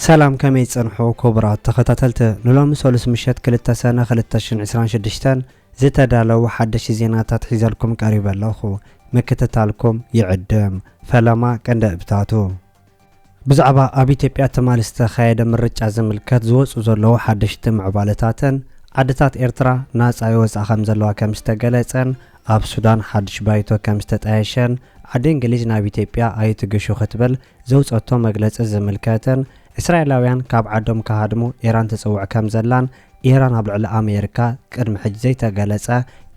ሰላም ከመይ ትጸንሑ ክቡራት ተኸታተልቲ ንሎሚ ሰሉስ ምሸት ክልተ ሰነ ክልተ ሽሕን ዕስራን ሽዱሽተን ዝተዳለዉ ሓደሽቲ ዜናታት ሒዘልኩም ቀሪበ ኣለኹ ምክትታልኩም ይዕድም ፈለማ ቀንዲ እብታቱ ብዛዕባ ኣብ ኢትዮጵያ ትማሊ ዝተኻየደ ምርጫ ዝምልከት ዝወጽኡ ዘለዉ ሓደሽቲ ምዕባለታትን፣ ዓድታት ኤርትራ ናጻ ይወጻ ከምዘለዋ ከምዝተገለጸን፣ ኣብ ሱዳን ሓድሽ ባይቶ ከምዝተጣየሸን፣ ዓዲ እንግሊዝ ናብ ኢትዮጵያ ኣይትግሹ ክትብል ዘውጸቶ መግለጺ ዝምልከትን፣ እስራኤላውያን ካብ ዓዶም ክሃድሙ ኢራን ትጽውዕ ከምዘላን፣ ኢራን ኣብ ልዕሊ ኣሜሪካ ቅድሚ ሕጂ ዘይተገለጸ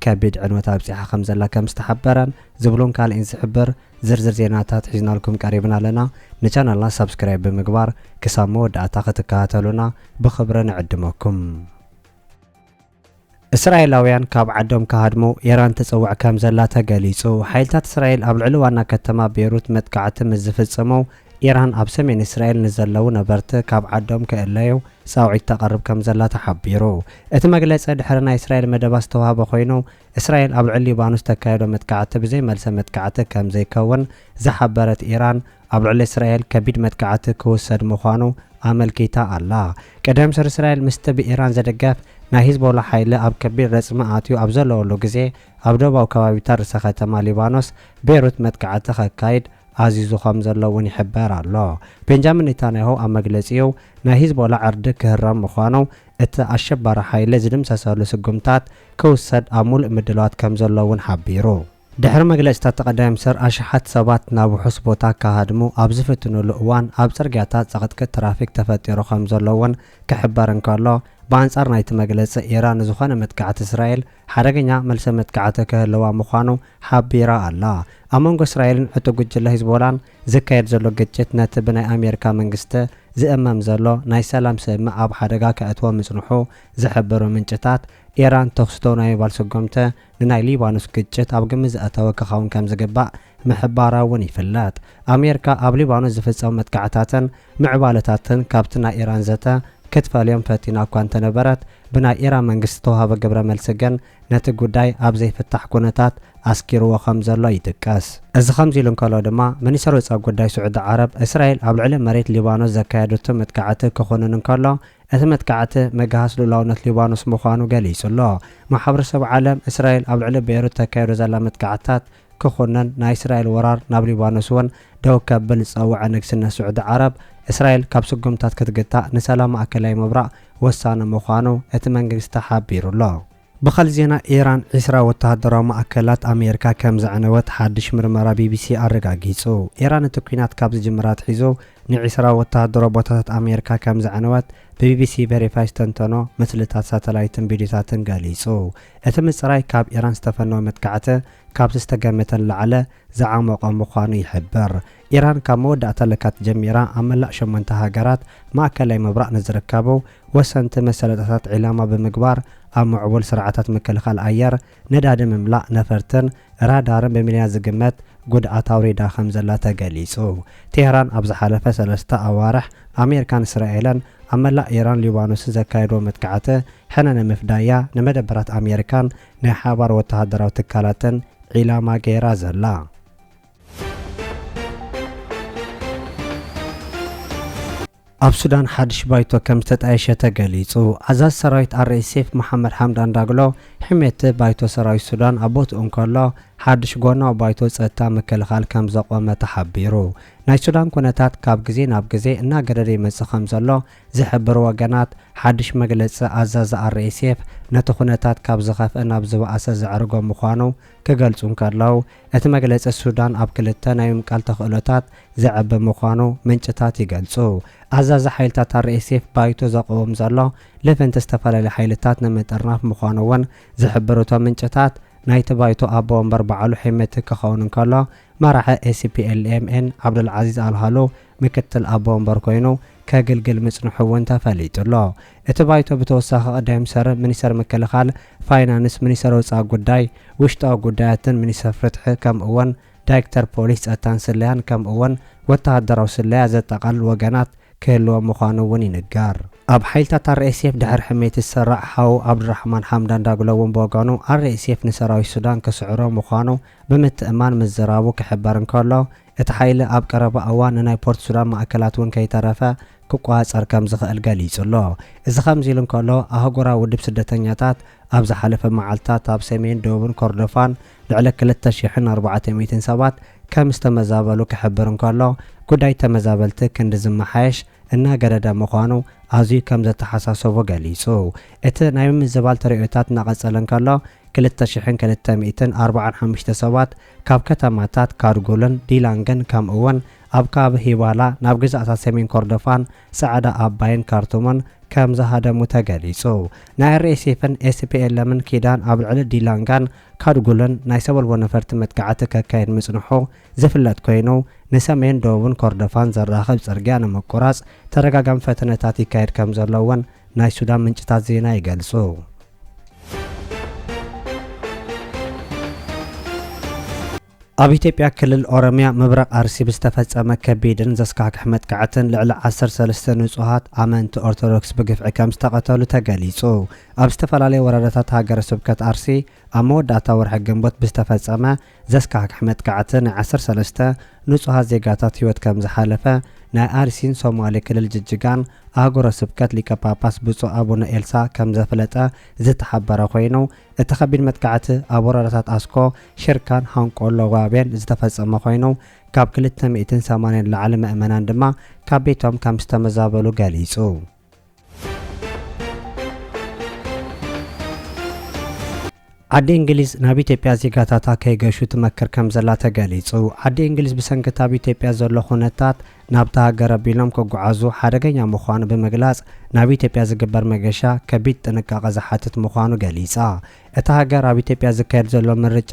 ከቢድ ዕንወት ኣብጺሓ ከምዘላ ከምዝተሓበረን ዝብሉን ካልእን ዝሕብር ዝርዝር ዜናታት ሒዝናልኩም ቀሪብና ኣለና ንቻነልና ሳብስክራይብ ብምግባር ክሳብ መወዳእታ ክትከታተሉና ብኽብሪ ንዕድመኩም። እስራኤላውያን ካብ ዓዶም ክሃድሙ ኢራን ትጽውዕ ከም ዘላ ተገሊጹ። ሓይልታት እስራኤል ኣብ ልዕሊ ዋና ከተማ ቤይሩት መጥቃዕቲ ምስ ዝፍጽሙ፣ ኢራን ኣብ ሰሜን እስራኤል ንዘለዉ ነበርቲ ካብ ዓዶም ክእለዩ ጻውዒት ተቕርብ ከም ዘላ ተሓቢሩ። እቲ መግለጺ ድሕሪ ናይ እስራኤል መደባት ዝተዋህበ ኮይኑ፣ እስራኤል ኣብ ልዕሊ ሊባኖስ ተካይዶ መጥቃዕቲ ብዘይ መልሰ መጥቃዕቲ ከም ዘይከውን ዝሓበረት ኢራን፣ ኣብ ልዕሊ እስራኤል ከቢድ መጥቃዕቲ ክውሰድ ምዃኑ ኣመልኪታ ኣላ። ቀደም ሰር እስራኤል ምስቲ ብኢራን ዝድገፍ ናይ ሂዝቦላ ሓይሊ ኣብ ከቢድ ረጽሚ ኣትዩ ኣብ ዘለወሉ ግዜ ኣብ ደቡባዊ ከባቢታት ርእሰ ከተማ ሊባኖስ ቤሩት መጥቃዕቲ ከካይድ ኣዚዙ ከም ዘሎ እውን ይሕበር ኣሎ። ቤንጃሚን ኔታንያሁ ኣብ መግለጺኡ ናይ ሂዝቦላ ዕርዲ ክህረም ምዃኑ እቲ ኣሸባሪ ሓይሊ ዝድምሰሰሉ ስጉምታት ክውሰድ ኣብ ሙሉእ ምድላዋት ከምዘሎ እውን ሓቢሩ። ድሕሪ መግለፂታት ጠቐዳይምኒስትር ኣሽሓት ሰባት ናብ ውሑስ ቦታ ክሃድሙ ኣብ ዝፍትኑሉ እዋን ኣብ ፅርግያታት ፅቕጥቅጥ ትራፊክ ተፈጢሩ ከምዘሎ እውን ክሕበር እንከሎ ብኣንፃር ናይቲ መግለፂ ኢራን ንዝኾነ መጥቃዕቲ እስራኤል ሓደገኛ መልሰ መጥቃዕቲ ክህልዋ ምዃኑ ሓቢራ ኣላ። ኣብ መንጎ እስራኤልን ዕጡቕ ጉጅለ ሂዝቦላን ዝካየድ ዘሎ ግጭት ነቲ ብናይ ኣሜሪካ መንግስቲ ዝእመም ዘሎ ናይ ሰላም ስምምዕ ኣብ ሓደጋ ከእትዎ ምጽንሑ ዝሕብሩ ምንጭታት፣ ኢራን ተኹሲ ደው ናይ ምባል ስጉምቲ ንናይ ሊባኖስ ግጭት ኣብ ግምት ዘእተወ ክኸውን ከም ዝግባእ ምሕባራ እውን ይፍለጥ። ኣሜሪካ ኣብ ሊባኖስ ዝፍጸሙ መጥቃዕታትን ምዕባለታትን ካብቲ ናይ ኢራን ዘተ ክትፈልዮም ፈቲና እኳ እንተነበረት፣ ብናይ ኢራን መንግስቲ ዝተዋህበ ግብረ መልሲ ግን ነቲ ጉዳይ ኣብ ዘይፍታሕ ኩነታት ኣስጊርዎ ከም ዘሎ ይጥቀስ። እዚ ከምዚ ኢሉ እንከሎ ድማ፣ ሚኒስተር ወጻኢ ጉዳይ ስዑዲ ዓረብ፣ እስራኤል ኣብ ልዕሊ መሬት ሊባኖስ ዘካየደቶ መጥቃዕቲ ክኹንን እንከሎ፣ እቲ መጥቃዕቲ ምግሃስ ልኡላውነት ሊባኖስ ምዃኑ ገሊጹ ኣሎ። ማሕበረሰብ ዓለም፣ እስራኤል ኣብ ልዕሊ ቤይሩት እተካይዶ ዘላ መጥቃዕትታት ክኹነን ናይ እስራኤል ወራር ናብ ሊባኖስ ውን ደው ከብል ዝጸውዐ ንግስነት ስዑዲ ዓረብ፣ እስራኤል ካብ ስጉምታት ክትግታእ ንሰላም ማእከላይ ምብራቕ ወሳኒ ምዃኑ እቲ መንግግስቲ ሓቢሩ'ሎ። ብኻልእ ዜና ኢራን ዕስራ ወተሃደራዊ ማእከላት ኣሜርካ ከም ዘዕነወት ሓድሽ ምርመራ ቢቢሲ ኣረጋጊጹ። ኢራን እቲ ኲናት ካብ ዝጅምር ኣትሒዙ ንዕስራ ወተሃደራዊ ቦታታት ኣሜርካ ከም ዘዕነወት ብቢቢሲ ቨሪፋይ ዝተንተኖ ምስልታት ሳተላይትን ቪድዮታትን ገሊጹ። እቲ ምጽራይ ካብ ኢራን ዝተፈነወ መጥቃዕቲ ካብቲ ዝተገመተ ንላዕሊ ዝዓሞቐ ምዃኑ ይሕብር። ኢራን ካብ መወዳእታ ለካቲት ጀሚራ ኣብ መላእ ሸሞንተ ሃገራት ማእከላይ ምብራቕ ንዝርከቡ ወሰንቲ መሰለጠታት ዒላማ ብምግባር ኣብ ምዕቡል ስርዓታት ምክልኻል ኣየር፣ ነዳዲ ምምላእ ነፈርትን ራዳርን ብሚልዮናት ዝግመት ጉድኣት ኣውሪዳ ከምዘላ ተገሊጹ። ቴህራን ኣብ ዝሓለፈ ሰለስተ ኣዋርሕ ኣሜሪካን እስራኤልን ኣብ መላእ ኢራን ሊባኖስን ዘካየድዎ መጥቃዕተ ሕነ ንምፍዳይ'ያ ንመደበራት ኣሜሪካን ናይ ሓባር ወተሃደራዊ ትካላተን ዒላማ ገይራ ዘላ። ኣብ ሱዳን ሓድሽ ባይቶ ከም ዝተጣየሸ ተገሊጹ። ኣዛዚ ሰራዊት ኣርኤስኤፍ መሓመድ ሓምዳን ዳግሎ ሕሜቲ ባይቶ ሰራዊት ሱዳን ኣብ ቦትኡ እንከሎ ሓድሽ ጎናዊ ባይቶ ጸጥታ ምክልኻል ከም ዘቖመ ተሓቢሩ። ናይ ሱዳን ኩነታት ካብ ግዜ ናብ ግዜ እናገደደ ይመጽእ ከምዘሎ ዝሕብሩ ወገናት፣ ሓድሽ መግለጺ ኣዛዚ RSF ነቲ ኩነታት ካብ ዝኸፍኣ ናብ ዝበኣሰ ዘዕርጎ ምዃኑ ክገልጹ እንከለው፣ እቲ መግለጺ ሱዳን ኣብ ክልተ ናይ ምምቃል ተኽእሎታት ዘዕቢ ምዃኑ ምንጭታት ይገልጹ። ኣዛዚ ሓይልታት RSF ባይቶ ዘቕውም ዘሎ ልፍንቲ ዝተፈላለዩ ሓይልታት ንምጥርናፍ ምዃኑ'ውን ዝሕብሩ እቶም ምንጭታት፣ ናይቲ ባይቶ ኣቦ ወንበር በዓሉ ሄመቲ ክኸውን እንከሎ፣ መራሒ SPLM-N ዓብዱልዓዚዝ ኣልሃሎ ምክትል ኣቦ ወንበር ኮይኑ ከግልግል ምጽንሑ እውን ተፈሊጡ'ሎ። እቲ ባይቶ ብተወሳኺ ቀዳይ ምኒስተር፣ ምኒስተር ምክልኻል፣ ፋይናንስ፣ ምኒስተር ወጻኢ ጉዳይ፣ ውሽጣዊ ጉዳያትን ምኒስተር ፍትሒ ከምኡ'ውን ዳይክተር ፖሊስ፣ ጸጥታን ስለያን ከምኡ'ውን ወተሃደራዊ ስለያ ዘጠቓልል ወገናት ክህልዎ ምዃኑ እውን ይንገር። ኣብ ሓይልታት RSF ድሕሪ ሕሜት ዝስራዕ ሓው ዓብዱራሕማን ሓምዳን ዳግሎ እውን ብወገኑ RSF ንሰራዊት ሱዳን ክስዕሮ ምዃኑ ብምትእምማን ምዝራቡ ክሕበር እንከሎ፣ እቲ ሓይሊ ኣብ ቀረባ እዋን ንናይ ፖርትሱዳን ማእከላት እውን ከይተረፈ ክቆጻጸር ከም ዝኽእል ገሊጹ ኣሎ። እዚ ከምዚ ኢሉ እንከሎ፣ ኣህጉራዊ ውድብ ስደተኛታት ኣብ ዝሓለፈ መዓልታት ኣብ ሰሜንን ደቡብን ኮርዶፋን ልዕሊ ክልተ ሽሕን ኣርባዕተ ሚእትን ሰባት ከም ዝተመዛበሉ ክሕብር እንከሎ፣ ጉዳይ ተመዛበልቲ ክንዲ ዝመሓየሽ እናገደደ ምዃኑ ኣዝዩ ከም ዘተሓሳሰቦ ገሊጹ። እቲ ናይ ምምዝባል ተርእዮታት እናቐጸለ እንከሎ፣ ክልተ ሽሕን ክልተ ሚእትን ኣርባዓን ሓሙሽተ ሰባት ካብ ከተማታት ካርጉልን ዲላንግን ከምኡ'ውን ኣብ ከባቢ ሂባላ ናብ ግዝኣታት ሰሜን ኮርዶፋን ጸዕዳ ኣባይን ካርቱምን ከም ዝሃደሙ ተገሊጹ። ናይ ኣርኤስኤፍን ኤስፒኤልኤምን ኪዳን ኣብ ልዕሊ ዲላንጋን ካርጉልን ናይ ሰበልቦ ነፈርቲ መጥቃዕቲ ከካይድ ምጽንሑ ዝፍለጥ ኮይኑ፣ ንሰሜን ደቡብን ኮርዶፋን ዘራኽብ ጽርግያ ንምቁራጽ ተደጋጋሚ ፈተነታት ይካየድ ከም ዘሎ'ውን ናይ ሱዳን ምንጭታት ዜና ይገልጹ። ኣብ ኢትዮጵያ ክልል ኦሮሚያ ምብራቕ ኣርሲ ብዝተፈጸመ ከቢድን ዘስካሕክሕ መጥቃዕትን ልዕሊ ዓሰርተ ሰለስተ ንጹሃት ኣመንቲ ኦርቶዶክስ ብግፍዒ ከም ዝተቐተሉ ተገሊጹ። ኣብ ዝተፈላለየ ወረዳታት ሃገረ ስብከት ኣርሲ ኣብ መወዳእታ ወርሒ ግንቦት ብዝተፈጸመ ዘስካሕክሕ መጥቃዕቲ ናይ ዓሰርተ ሰለስተ ንጹሃት ዜጋታት ህይወት ከም ዝሓለፈ ናይ ኣርሲን ሶማሌ ክልል ጅጅጋን ኣህጉረ ስብከት ሊቀ ጳጳስ ብፁዕ ኣቡነ ኤልሳ ከም ዘፍለጠ ዝተሓበረ ኮይኑ እቲ ከቢድ መጥቃዕቲ ኣብ ወረዳታት ኣስኮ ሽርካን ሃንቆሎ ዋቤን ዝተፈጸመ ኮይኑ ካብ ክልተ ሚእትን ሰማንያን ንላዕሊ ምእመናን ድማ ካብ ቤቶም ከም ዝተመዛበሉ ገሊጹ። ዓዲ እንግሊዝ ናብ ኢትዮጵያ ዜጋታታ ከይገሹ ትመክር ከም ዘላ ተገሊጹ። ዓዲ እንግሊዝ ብሰንኪ እቲ ኣብ ኢትዮጵያ ዘሎ ኩነታት ናብታ ሃገር ኣቢሎም ክጓዓዙ ሓደገኛ ምዃኑ ብምግላጽ ናብ ኢትዮጵያ ዝግበር መገሻ ከቢድ ጥንቃቐ ዝሓትት ምዃኑ ገሊጻ። እታ ሃገር ኣብ ኢትዮጵያ ዝካየድ ዘሎ ምርጫ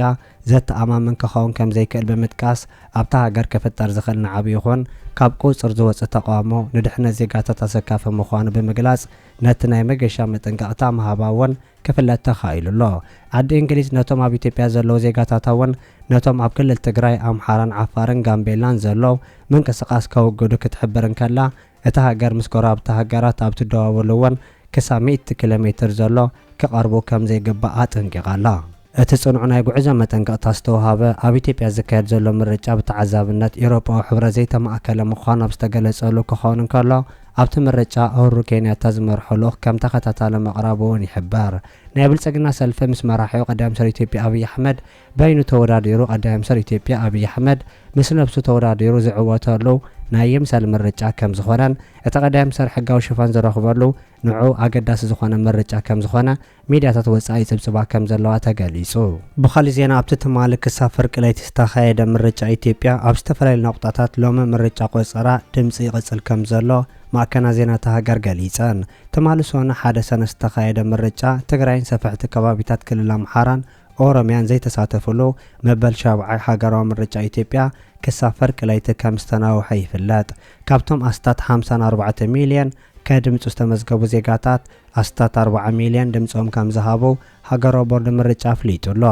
ዘተኣማምን ክኸውን ከም ዘይክእል ብምጥቃስ፣ ኣብታ ሃገር ክፍጠር ዝኽእል ንዓቢ ይኹን ካብ ቁጽጽር ዝወጽእ ተቓውሞ ንድሕነት ዜጋታት ኣሰካፊ ምዃኑ ብምግላጽ ነቲ ናይ መገሻ መጠንቀቕታ ምሃባ'ውን ክፍለጥ ተኻኢሉ ኣሎ። ዓዲ እንግሊዝ ነቶም ኣብ ኢትዮጵያ ዘለዉ ዜጋታታ'ውን ነቶም ኣብ ክልል ትግራይ፣ ኣምሓራን ዓፋርን ጋምቤላን ዘሎ ምንቅስቓስ ከውግዱ ክትሕብር እንከላ፣ እታ ሃገር ምስ ጎረባብቲ ሃገራት ኣብ ትደዋወሉ እውን ክሳብ ሚእቲ ኪሎ ሜትር ዘሎ ክቐርቡ ከም ዘይግባእ ኣጠንቂቓ ኣላ። እቲ ጽኑዕ ናይ ጉዕዞ መጠንቀቕታ ዝተውሃበ፣ ኣብ ኢትዮጵያ ዝካየድ ዘሎ ምርጫ ብተዓዛብነት ኢውሮጳዊ ሕብረት ዘይተማእከለ ምዃኑ ኣብ ዝተገለጸሉ ክኸውን እንከሎ፣ ኣብቲ ምርጫ ኡሁሩ ኬንያታ ዝመርሖ ልኡኽ ከም ተኸታታሊ ምቕራቡ እውን ይሕበር። ናይ ብልጽግና ሰልፊ ምስ መራሒኡ ቀዳማይ ሚኒስተር ኢትዮጵያ ኣብይ ኣሕመድ፣ በይኑ ተወዳዲሩ ቀዳይ ምምስር ኢትዮጵያ ኣብይ ኣሕመድ ምስ ነብሱ ተወዳዲሩ ዝዕወተሉ ናይ ይምሰል ምርጫ ከምዝኾነን እቲ ቀዳይ ምምስር ሕጋዊ ሽፋን ዝረኽበሉ ንዕኡ ኣገዳሲ ዝኾነ ምርጫ ከምዝኾነ ሚድያታት ወፃኢ ይፅብፅባ ከምዘለዋ ተገሊፁ። ብኻሊእ ዜና ኣብቲ ትማሊ ክሳብ ፍርቂ ለይቲ ዝተኻየደ ምርጫ ኢትዮጵያ ኣብ ዝተፈላለዩ ናቑጣታት ሎሚ ምርጫ ቆፀራ ድምፂ ይቕፅል ከምዘሎ ማዕከናት ዜና እታ ሃገር ገሊፀን። ትማሊ ሶኑይ ሓደ ሰነ ዝተኻየደ ምርጫ ትግራይን ሰፈሕቲ ከባቢታት ክልል ኣምሓራን ኦሮምያን ዘይተሳተፍሉ መበል ሻብዓይ ሃገራዊ ምርጫ ኢትዮጵያ ክሳብ ፈርቂ ለይቲ ከም ዝተናውሐ ይፍለጥ። ካብቶም ኣስታት ሓምሳን ኣርባዕተ ሚልዮን ከድምጹ ዝተመዝገቡ ዜጋታት ኣስታት ኣርባዓ ሚልዮን ድምጾም ከም ዝሃቡ ሃገራዊ ቦርድ ምርጫ ኣፍሊጡ ኣሎ።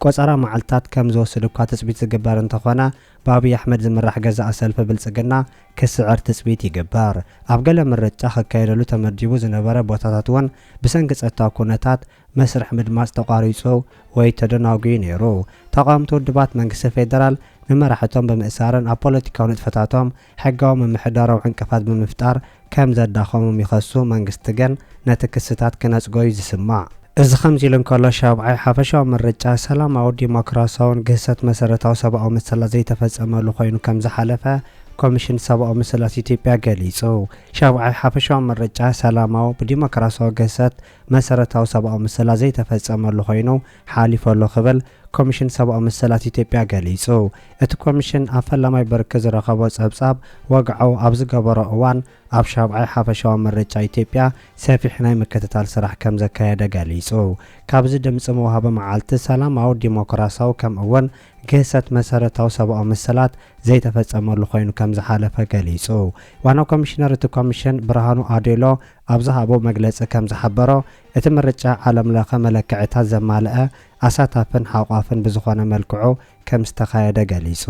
ቆጸራ መዓልትታት ከም ዝወስድ እኳ ትጽቢት ዝግበር እንተኾነ ብኣብይ ኣሕመድ ዝምራሕ ገዛኢ ሰልፊ ብልጽግና ክስዕር ትጽቢት ይግበር። ኣብ ገለ ምርጫ ክካየደሉ ተመዲቡ ዝነበረ ቦታታት እውን ብሰንኪ ጸጥታዊ ኩነታት መስርሕ ምድማጽ ተቋሪጹ ወይ ተደናጉዩ ነይሩ። ተቓወምቲ ውድባት መንግስቲ ፌደራል ንመራሕቶም ብምእሳርን ኣብ ፖለቲካዊ ንጥፈታቶም ሕጋዊ ምምሕዳራዊ ዕንቅፋት ብምፍጣር ከም ዘዳኸሞም ይኸሱ፣ መንግስቲ ግን ነቲ ክስታት ክነጽጎ'ዩ ዝስማዕ። እዚ ከምዚ'ሉ እንከሎ፣ ሻብዓይ ሓፈሻዊ ምርጫ ሰላማዊ፣ ዲሞክራሲያውን ግህሰት መሰረታዊ ሰብኣዊ መሰላት ዘይተፈጸመሉ ኮይኑ ከም ዝሓለፈ ኮሚሽን ሰብኣዊ መሰላት ኢትዮጵያ ገሊጹ። ሻብዓይ ሓፈሻዊ ምርጫ ሰላማዊ፣ ብዲሞክራሲያዊ ግህሰት መሰረታዊ ሰብኣዊ መሰላት ዘይተፈፀመሉ ኮይኑ ሓሊፉ ኣሎ ክብል ኮሚሽን ሰብኣዊ መሰላት ኢትዮጵያ ገሊፁ። እቲ ኮሚሽን ኣብ ፈላማይ ብርኪ ዝረኸቦ ፀብፃብ ወግዓኡ ኣብ ዝገበሮ እዋን ኣብ ሻብዓይ ሓፈሻዊ ምርጫ ኢትዮጵያ ሰፊሕ ናይ ምክትታል ስራሕ ከምዘካየደ ገሊፁ። ካብዚ ድምፂ መውሃቢ መዓልቲ ሰላማዊ፣ ዲሞክራሲያዊ ከም እውን ግህሰት መሰረታዊ ሰብኣዊ መሰላት ዘይተፈፀመሉ ኮይኑ ከምዝሓለፈ ገሊፁ። ዋና ኮሚሽነር እቲ ኮሚሽን ብርሃኑ ኣዴሎ ኣብ ዝሃቦ መግለጺ ከም ዝሓበሮ፣ እቲ ምርጫ ዓለም ለኸ መለክዕታት ዘማልአ፣ ኣሳታፍን ሓቋፍን ብዝኾነ መልክዑ ከም ዝተኻየደ ገሊጹ።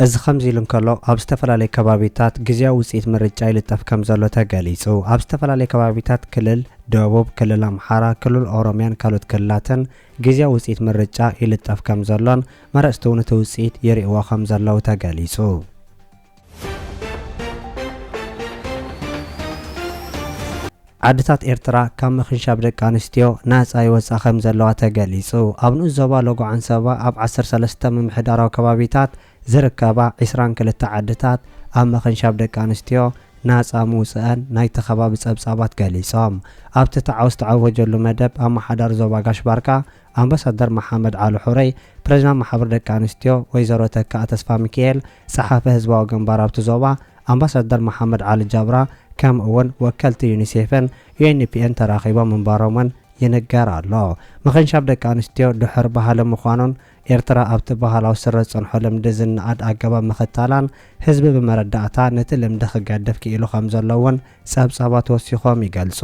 እዚ ከምዚ ኢሉ እንከሎ፣ ኣብ ዝተፈላለዩ ከባቢታት ግዝያዊ ውጽኢት ምርጫ ይልጠፍ ከም ዘሎ ተገሊጹ። ኣብ ዝተፈላለዩ ከባቢታት ክልል ደቡብ፣ ክልል ኣምሓራ፣ ክልል ኦሮምያን ካልኦት ክልላትን ግዝያዊ ውጽኢት ምርጫ ይልጠፍ ከም ዘሎን መረጽቲ'ውን እቲ ውጽኢት ይርእይዎ ከም ዘለዉ ተገሊጹ። ዓድታት ኤርትራ ካብ ምኽንሻብ ደቂ ኣንስትዮ ናጻ ይወጻ ከም ዘለዋ ተገሊጹ። ኣብ ንኡስ ዞባ ሎጎ ዓንሰባ ኣብ ዓሰርተ ሰለስተ ምምሕዳራዊ ከባቢታት ዝርከባ ዕስራን ክልተ ዓድታት ኣብ ምኽንሻብ ደቂ ኣንስትዮ ናጻ ምውጽኣን ናይቲ ከባቢ ጸብጻባት ገሊጾም። ኣብቲ ተዓው ዝተዓወጀሉ መደብ ኣመሓዳሪ ዞባ ጋሽ ባርካ ኣምባሳደር መሓመድ ዓሊ ሑረይ ፕረዚዳንት ማሕበር ደቂ ኣንስትዮ ወይዘሮ ተካኣ ተስፋሚኪኤል ጸሓፊ ህዝባዊ ግንባር ኣብቲ ዞባ ኣምባሳደር መሓመድ ዓሊ ጃብራ ከምኡ'ውን ወከልቲ ዩኒሴፍን ዩኤንፒኤን ተራኺቦም ምንባሮም'ውን ይንገር ኣሎ። ምኽንሻብ ደቂ ኣንስትዮ ድሑር ባህሊ ምዃኑን ኤርትራ ኣብቲ ባህላዊ ስረ ዝጸንሖ ልምዲ ዝነኣድ ኣገባብ ምኽታላን ህዝቢ ብመረዳእታ ነቲ ልምዲ ክገድፍ ክኢሉ ከምዘሎ'ውን ጸብጻባት ወሲኾም ይገልጹ።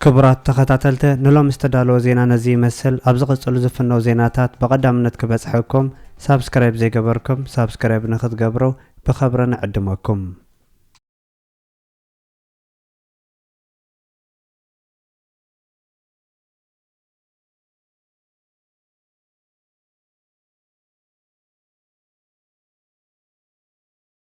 ክቡራት ተኸታተልተ ንሎሚ ዝተዳለወ ዜና ነዚ ይመስል ኣብ ዝቕጽሉ ዝፍነው ዜናታት ብቐዳምነት ክበጽሐኩም ሳብስክራይብ ዘይገበርኩም ሳብስክራይብ ንክትገብሩ ብኸብሪ ንዕድመኩም